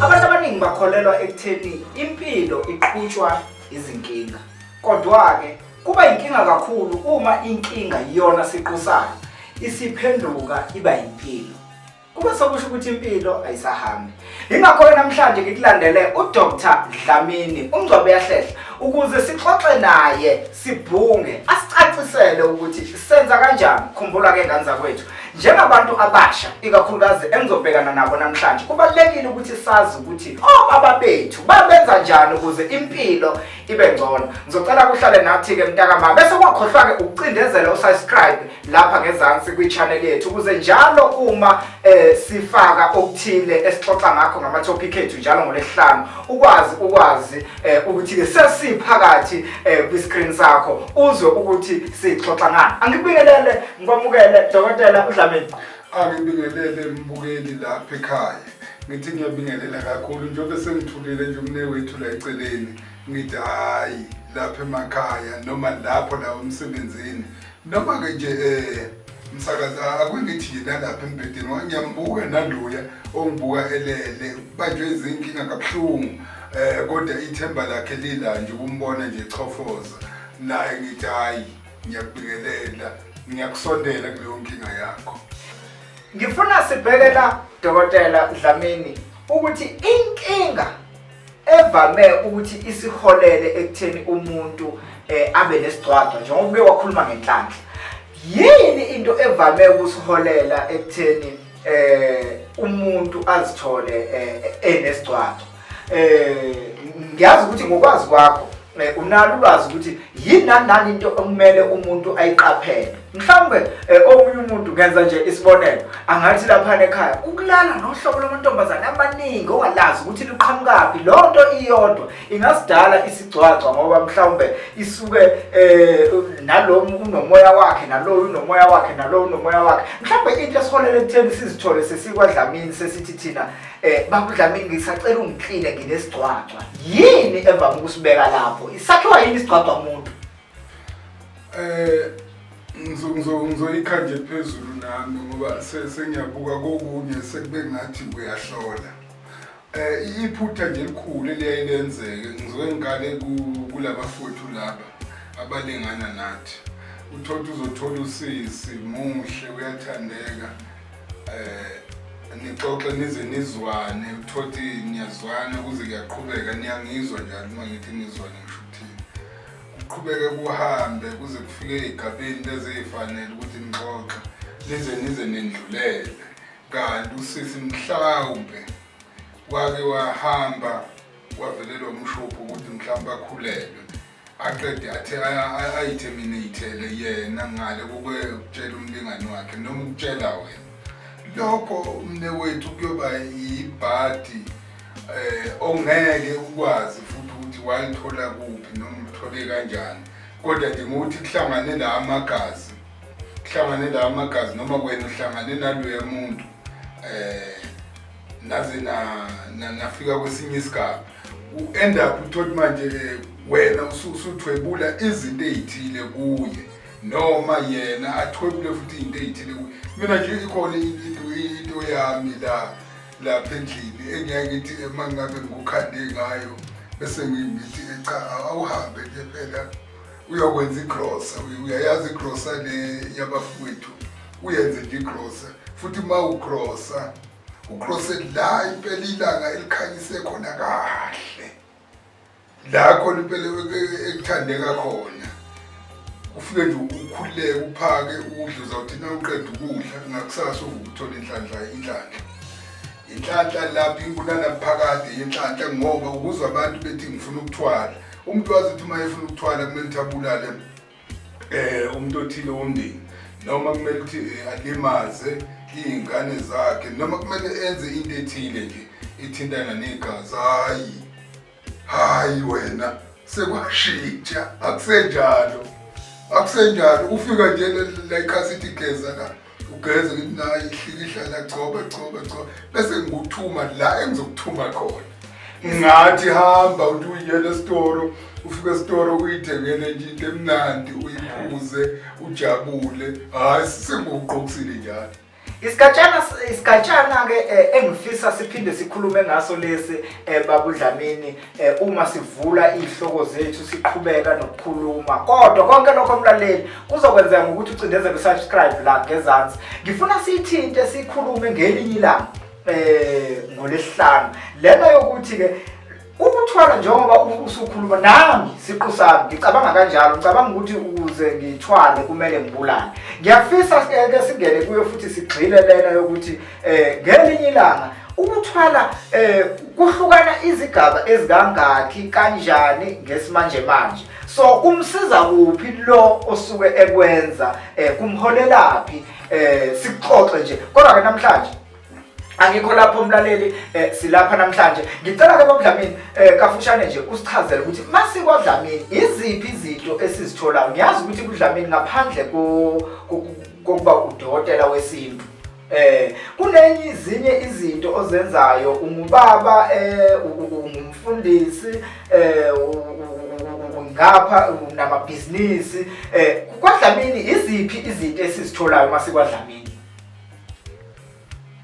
abantu abaningi bakholelwa ekutheni impilo iqhutshwa izinkinga kodwa-ke kuba yinkinga kakhulu uma inkinga iyona siqu sayo isiphenduka iba yimpilo Kube sokusho ukuthi impilo ayisahambi. Ingakho namhlanje ngikulandele uDr Dlamini uMngcwabe yahlehla ukuze sixoxe naye sibhunge asicacisele ukuthi senza kanjani khumbula ke ngane zakwethu njengabantu abasha ikakhulukazi engizobhekana nabo namhlanje kubalulekile ukuthi sazi ukuthi obaba bethu babenza njani ukuze impilo ibe ngcono ngizocela kuhlale nathi-ke mntakama bese kwakhohlwa-ke ukucindezela usubscribe lapha ngezansi kwi-channel yethu ukuze njalo uma um sifaka okuthile esixoxa ngakho ngama-topic ethu njalo ngolesihlanu ukwazi ukwazi um ukuthi-ke sesiphakathi um kwi-screen sakho uzwe ukuthi sixoxa ngani angikubingelele ngikwamukele dokotela udlamini angibingelele mbukeli lapha ekhaya ngithi ngiyabingelela kakhulu njengoba sengithulile nje umnewethu la eceleni ngithi hhayi lapha emakhaya noma lapho la emsebenzini noma-ke nje um msakazi akungithi yena lapha embhedeni wangiyambuka naloya ongibuka elele kubanjwe izinkinga kabuhlungu um kodwa ithemba lakhe lila nje ukumbona nje chofoza naye ngithi hhayi ngiyakubingelela ngiyakusondela kuleyo nkinga yakho Ngifuna sibheke la Dokotela Dlamini ukuthi inkinga evame ukuthi isiholele ekutheni umuntu eh abe nesigcwagcwa njengoba uke wakhuluma ngenhlanhla yini into evame ukusiholela ekutheni eh umuntu azithole eh, enesigcwagcwa Eh ngiyazi ukuthi ngokwazi kwakho eh, unalo ulwazi ukuthi yini nanani into okumele umuntu ayiqaphele mhlawumbe eh, omunye umuntu ngenza nje isibonelo angathi lapha ekhaya ukulala nohlobo lwamantombazane amaningi ongalazi ukuthi luqhamukaphi loo nto iyodwa ingasidala isigcwagcwa ngoba mhlawumbe isuke um nalo unomoya wakhe naloyo unomoya wakhe naloyo unomoya wakhe mhlawumbe into esiholele ekutheni sizithole sesikwadlamini sesithi thina Eh babu Dlamini ngisacela ungicleane nginesigcwagcwa. Yini evama ukusibeka lapho? Isakhiwa yini isigcwagcwa umuntu? Eh ngizo ngizo ngizoyikha nje phezulu nami ngoba se- sengiyabuka kokunye sekube ngathi uyahlola. Eh iphutha nje elikhulu eliyaye lenzeke ngizoke ngikale ku- kulabafowethu laba abalingana nathi. Uthola uzothola usisi muhle uyathandeka um nixoxe nize nizwane uthoti niyazwana kuze kuyaqhubeka niyangizwa njalo uma ngithi nizwane ngisho ukuthini kuqhubeke kuhambe kuze kufike ey'gabeni lezey'fanele ukuthi nixoxe nize nize nendlulele kanti usisi mhlawumbe wake wahamba wavelelwa umshophi ukuthi mhlawumbe akhulelwe aqede athe ayitherminatele yena ngale kokutshela umlingani wakhe noma ukutshela wena lokho umnewethu kuyoba yibhadi eh ongeke ukwazi futhi ukuthi walithola kuphi noma uthole kanjani kodwa nje ngokuthi kuhlangane la amagazi kuhlangane la amagazi noma wena uhlangane naloya muntu eh naze na nafika kwesinye isigaba u-end up uthoti manje-ke wena usuthwebula izinto ey'thile kuye noma yena athwebule futhi iy'nto ey'thile kuye mina nje ikhona into yami la lapha endlini engiyake ngithi uma ngabe ngikukhande ngayo bese ngithi cha awuhambe nje phela uyokwenza igrosa uyayazi igrosa le yabafowethu uyenze nje igrosa futhi uma ugrosa ucrose la impela ilanga elikhanyise khona kahle la khona impela ekuthandeka khona ufike nje ukhuleke uphake udle uzawuthi na uqeda ukudla ngakusasa uvukuthola inhlanhla inhlanhla inhlanhla lapha inkunana phakade yenhlanhla ngoba ukuze abantu bethi ngifuna ukuthwala umuntu wazi ukuthi uma efuna ukuthwala kumele ukuthi abulale eh umuntu othile womndeni noma kumele ukuthi eh, alimaze iy'ngane zakhe noma kumele enze into ethile nje ithintana negazi hhayi hhayi wena sekwashintsha akusenjalo akusenjalo ufika nje la ikhasi ithi geza la ugeze ngithi nayi hlikihla nagcoba gcoba gcoba bese ngikuthuma la engizokuthuma khona ngathi hamba uthi uyiyela esitoro ufika esitoro uyithengele nje into emnandi uyiphuze ujabule hhayi sisengikuqokisile njalo Isigatshana isigatshana ke eh, engifisa siphinde sikhulume ngaso lesi eh, babudlamini Eh, uma sivula iy'hloko zethu siqhubeka nokukhuluma kodwa konke lokho mlaleli kuzokwenzeka ngokuthi ucindezele usubscribe la ngezansi ngifuna siyithinte sikhulume ngelinye ilanga um eh, ngolesihlanu lena yokuthi-ke ukuthwala njengoba usukhuluma nami siqu sami ngicabanga kanjalo ngicabanga ukuthi ukuze ngithwale kumele ngibulane ngiyafisa ke singene kuyo futhi sigxile lena yokuthi eh ngelinye ilanga ukuthwala eh kuhlukana izigaba ezikangaki kanjani ngesimanje manje so kumsiza kuphi lo osuke ekwenza eh kumholelaphi eh sikuxoxe nje kodwa ke namhlanje angikho lapho umlaleli eh silapha namhlanje ngicela ke babudlamini eh kafushane nje usichazele ukuthi masikwadlamini iziphi izinto esizitholayo ngiyazi ukuthi kudlamini ngaphandle ko kokuba udokotela wesintu Eh kunenye izinye izinto ozenzayo ungubaba eh ungumfundisi eh ngapha namabhizinisi eh kwadlamini iziphi izinto esizitholayo uma sikwadlamini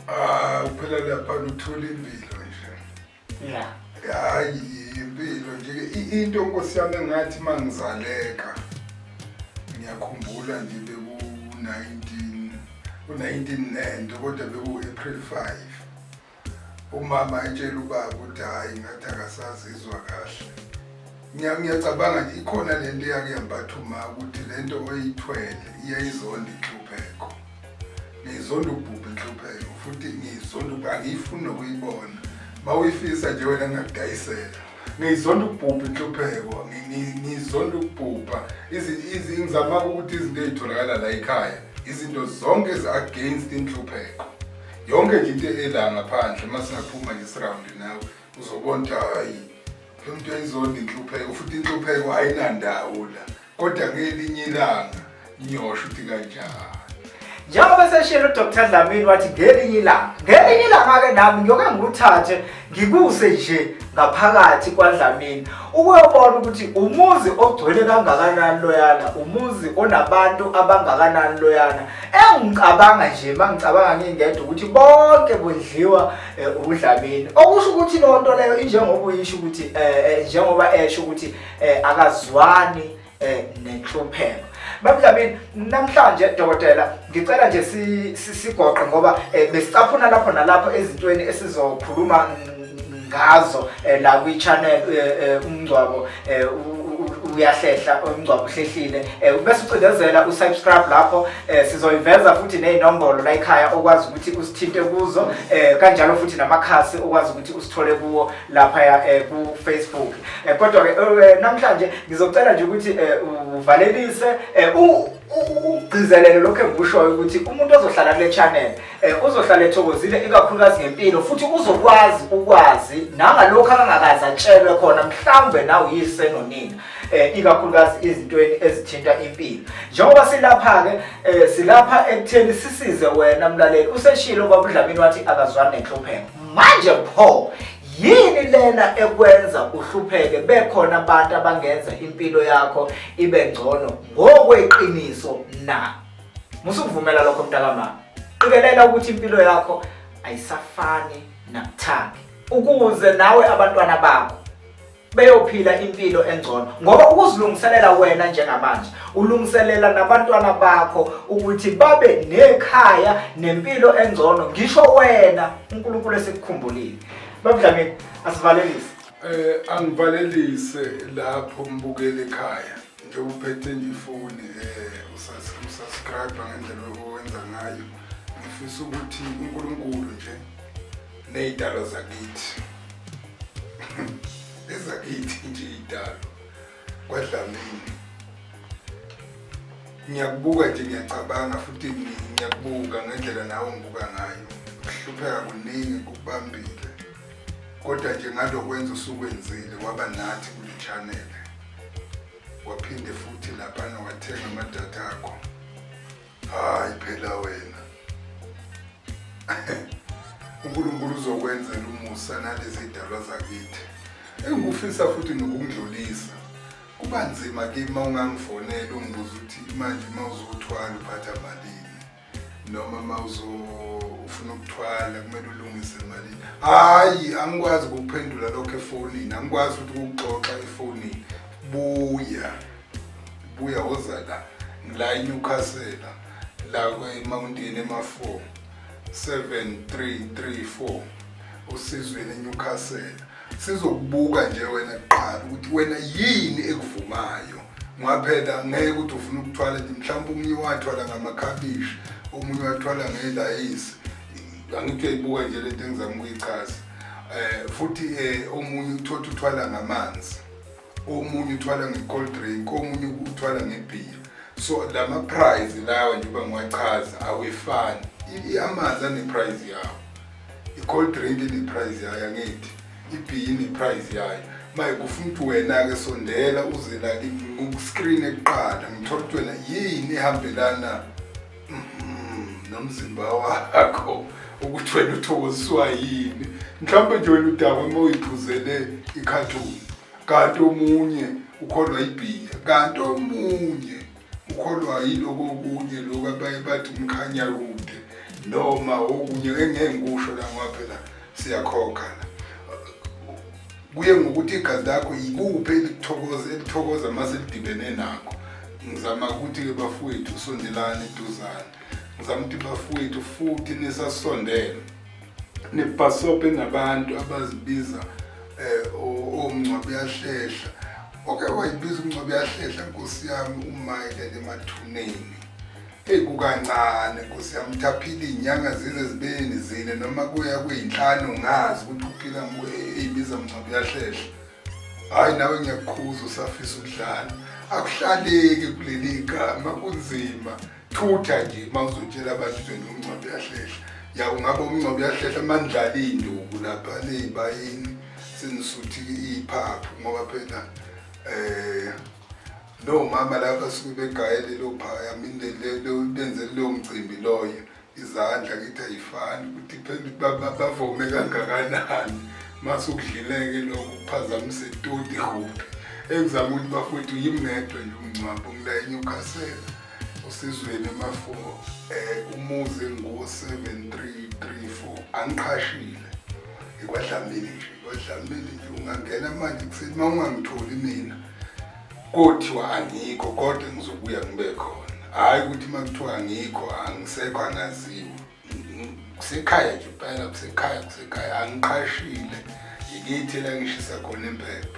Ah phela lapha uthola impilo hayi impilo nje into nkosi yami engathi uma ngizaleka ngiyakhumbula nje beku-nineteen u-nineteen nento kodwa beku-april five umama etshela ubaba ukuthi hhayi ngathi akasazizwa kahle ngiyacabanga nje ikhona le nto eyakuyambatha uma ukuthi le nto oyithwele iyayizonda inhlupheko ngizonda ukubhubha inhlupheko futhi ngizonda angiyifuni nokuyibona mawuyifisa nje wena ngingakudayisela ngizonda ukubhubha inhlupheko ngizonda ukubhubha ngizama ukuthi izinto ezitholakala la ekhaya izinto zonke ezi-against inhlupheko yonke nje into ela ngaphandle uma singaphuma nje sirawundi nawe uzobona ukuthi hayi lo muntu ayizondi inhlupheko futhi inhlupheko ayinandawo la kodwa ngelinye ilanga ngiyosho ukuthi kanjani njengoba eseshilo udr dlamini wathi ngelinye ilanga ngelinye ilanga-ke nami ngiyoke ngikuthathe ngikuse nje ngaphakathi kwadlamini ukuyobona ukuthi umuzi ogcwele kangakanani loyana umuzi onabantu abangakanani loyana engicabanga nje uma ngicabanga ngingedwa ukuthi bonke kudliwa um udlamini okusho ukuthi loo nto leyo injengoba uyisho ukuthi um njengoba esho ukuthi eh akazwani eh nenhlupheko Babudlamini namhlanje dokotela ngicela nje sigoqe ngoba eh, besicaphuna lapho nalapho ezintweni esizokhuluma ngazo eh, la kwi channel eh, eh, umngcwabo uyahlehla umngcwabo uhlehlile bese ucindezela usubscribe lapho sizoyiveza futhi nezinombolo la ekhaya okwazi ukuthi usithinte kuzo kanjalo futhi namakhasi okwazi ukuthi usithole kuwo laphaya um eh, kufacebook um eh, kodwa-ke eh, namhlanje ngizocela nje ukuthi um uvalelise um ugcizelele lokhu engikushoyo ukuthi umuntu ozohlala kule channel um uzohlala ethokozile ikakhulukazi ngempilo futhi uzokwazi ukwazi nangalokhu akangakazi atshelwe khona mhlawumbe nawe yise nonina um ikakhulukazi izintweni ezithinta impilo njengoba silapha-ke um silapha ekutheni sisize wena mlaleli useshile ubabudlamini wathi akazwani nenhlupheko manje pho yini lena ekwenza uhlupheke bekhona abantu abangenza impilo yakho ibe ngcono ngokweqiniso na musukuvumela lokho mntakamama qikelela ukuthi impilo yakho ayisafani nakuthandi ukuze nawe abantwana bakho beyophila impilo engcono ngoba ukuzilungiselela wena njengamanje ulungiselela nabantwana bakho ukuthi babe nekhaya nempilo engcono ngisho wena uNkulunkulu esikukhumbulile babudlamini asivalelise eh angivalelise lapho mbukele ekhaya nje uphethe nje ifoni eh usasubscribe ngendlela owenza ngayo ngifisa ukuthi uNkulunkulu nje Ney'dalo zakithi. Ezakithi nje iy'dalo. KwaDlamini. Ngiyakubuka nje ngiyacabanga futhi ngiyakubuka ngendlela nawe ongibuka ngayo. Ukuhlupheka kuningi kubambile. Kodwa nje ngalokwenza usukwenzile waba nathi kule channel. Waphinde futhi lapha wathenga amadatha akho. Hayi phela wena. uNkulunkulu uzokwenzela umusa nalezi dalwa zakithi. Engikufisa futhi nokungidlulisa. Kuba nzima kimi uma ungangifonela ungibuza ukuthi manje uma uzothwala uphatha malini noma uma ufuna ukuthwala kumele ulungise malini. Hayi angikwazi ukuphendula lokho efonini, angikwazi ukuthi ukuxoxa efonini. Buya. buya woza la ngila eNewcastle la kweMountain ema-4 7334 usizweni eNewcastle sizokubuka nje wena kuqala ukuthi wena yini ekuvumayo ngaphela ngeke ukuthi ufuna ukuthwala nje mhlawumbe omunye wathwala ngamakhabishi omunye wathwala ngelayisi angithi uyayibuka nje lento engizama ukuyichaza um futhi um omunye uthotha uthwala ngamanzi omunye uthwala nge-cold drink omunye uthwala ngebhiya so la ma-prize lawa njengoba ngiwachaza awefani amanzi aneprize yawo i-cold drink ineprize yayo angithi ibhiyi ineprize yayo maye kufuna ukuthi wena-ke sondela uze la ngiku-screen ekuqala ngithole ukuthi wena yini ehambelana Mm-hmm. nomzimba wakho ukuthi wena uthokoziswa yini mhlawumbe nje wena udakwe uma uyiphuzele ikhathuni kanti omunye ukholwa ibhiya kanti omunye ukholwa yiloko okunye loku abaye bathi umkhanya kude noma okunye engeke ngikusho la ngoba phela siyakhokha la kuye ngokuthi igazi lakho yikuphi elithokoza elithokoza uma selidibene nakho ngizama ukuthi-ke bafowethu sondelane eduzane ngizama ukuthi bafowethu futhi nisasondele nibhasobhe nabantu abazibiza um omngcwabi uyahlehla oke wayibiza umngcwabi uyahlehla nkosi yami umayele emathuneni Eyi kukancane nkosi yami ukuthi aphile iy'nyanga zize zibeni zine noma kuya kuyinhlanu ngazi ukuthi uphila eyibiza mngcwabo yahlehla hhayi nawe ngiyakukhuza usafisa ukudlala akuhlaleki kuleli gama kunzima thutha nje uma uzotshela abantu uveni umngcwabo yahlehla ya ungaba umngcwabo yahlehla mandlala iy'nduku lapha ley'bayini senisuthi iphaphu ngoba phela um Lowo mama la basuke begayele lophaya mindele benze leyo mcimbi loyo izandla kithi ayifani ukuthi phela baba bavome kangakanani mase ukudlileke lokho kuphazamise itoti huphi engizama ukuthi bafowethu yimi ngedwa nje umngcwabo ngila eNewcastle osizweni emafo um eh, umuzi engu-seven three three four angiqhashile ngikwadlamini nje kwadlamini nje ungangena manje kuseni uma ungangitholi mina Kothiwa angikho kodwa ngizobuya ngibe khona. Hhayi ukuthi uma kuthiwa angikho angisekho angaziwa. Kusekhaya nje impela kusekhaya kusekhaya angiqashile ngikithi la ngishisa khona impepho.